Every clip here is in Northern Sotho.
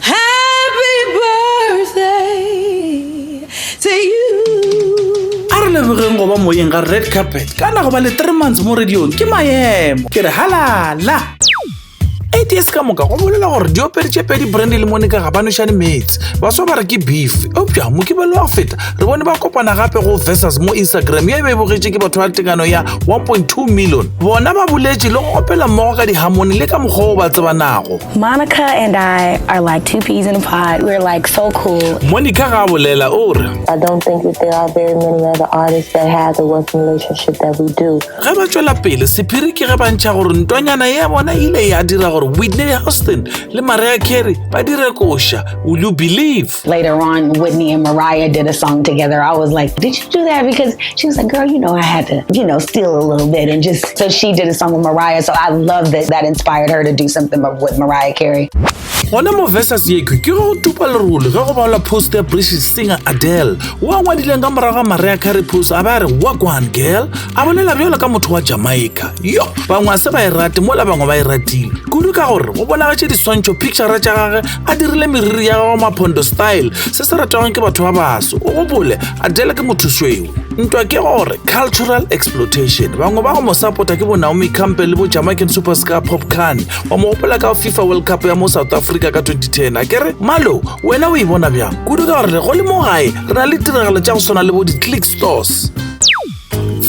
Happy birthday to you. A re lebogeng go ba moyeng ga red carpet kana go ba le three months mo radiong ke maemo ke re halala ads ka moka go bolela gore diopedi tše pedi brandy le monica ga ba nošane metse baswa ba re ke beef eupša mokibelo wa go feta re bone ba kopana gape go versus mo instagram ye e be e bogetše ke batho ba tekano ya 1.2 million bona ba boletše le go opela mmogo ka dihamone le ka mokgwa o ba tsebanago Monica and I are like two peas in a pod. We're like so cool. Monica Gabulela Ura. I don't think that there are very many other artists that have the working relationship that we do. Ge ba tšwela pele, sephiri ke ge ba ntšha gore ntwanyana ya bona ile ya dira gore Whitney Houston le Mariah Carey ba dire koša. Will you believe? Later on, Whitney and Mariah did a song together. I was like, did you do that? Because she was like, girl, you know, I had to, you know, steal a little bit. And just, so she did a song with Mariah. So I love that that inspired her to do something with Mariah Carey. gona mo versus ye ke go tupa lerole ge go balwa post ya british singer adele o a ngwadileng ka morago ga maria carry post a ba re work one girl a bolela bjalo ka motho wa jamaica yo bangwe a se ba e rate mola bangwe ba e ratile kudu ka gore go bonagatše diswantšho picture tša gage a dirile meriri ya gago maphondo style se se ratwang ke batho ba baso o gopole adele ke mothusweo ntwa ke gore cultural exploitation bangwe ba go mo sapota ke bonaomi campe le bojamacan superscar popcan wa mo gopola ka fifa world cup ya mo south africa ka 2010 a kere malo wena o e bona bjang kudu ka gore go le mo gae re na le tiragalo tša go swana le bo di-click stores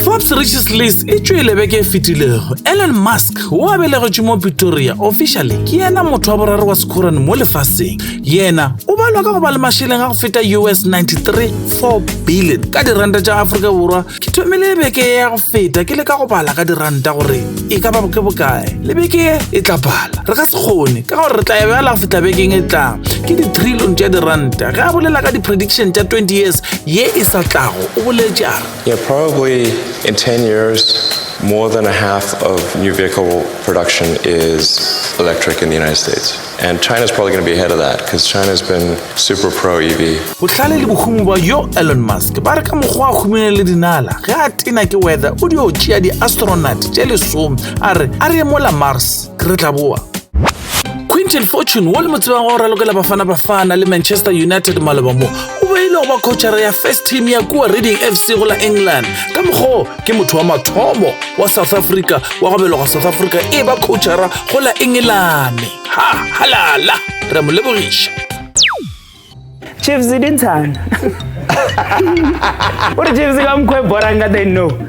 Forbes Riches List e tšwele beke e fetilego. Elon Musk, wo a belegetšwe mo Pretoria, officially ke yena motho wa boraro wa sekhorane mo lefaseng. Yena o balwa ka go ba le mašeleng a go feta US 93.4 billion ka diranta tša Afrika Borwa. Ke thomile beke ya go feta ke le ka go bala ka diranta gore e ka ba ke bokae. Le beke e tla bala. Re ka se kgone ka gore re tla ya bjala go feta bekeng e tlang. Ke di-trillion tša diranta. Ge a bolela ka di-prediction tša 20 years ye e sa tlago. O boletše a re. Yeah, probably in 10 years, more than a half of new vehicle production is electric in the United States. And China's probably going to be ahead of that because China's been super pro EV. Bohlale le bohumu ba yo Elon Musk ba re ka mokgwa a humile le dinala ge a tena ke weather o dio tšea di-astronaut tše lesome a re a re emola Mars ke re tla boa Quinton Fortune wo le mo tsebang wa go ralokela Bafana Bafana le Manchester United maloba mo o be e le go ba khotšhara ya first team ya kua reading fc go la england ka mokgoo ke motho wa mathomo wa south africa wa go beloga south africa e ba khotšhara go la engelane ha halala re mo lebogiša chiefs dintshana o re chiefs ka mokgwa e borang ka teng no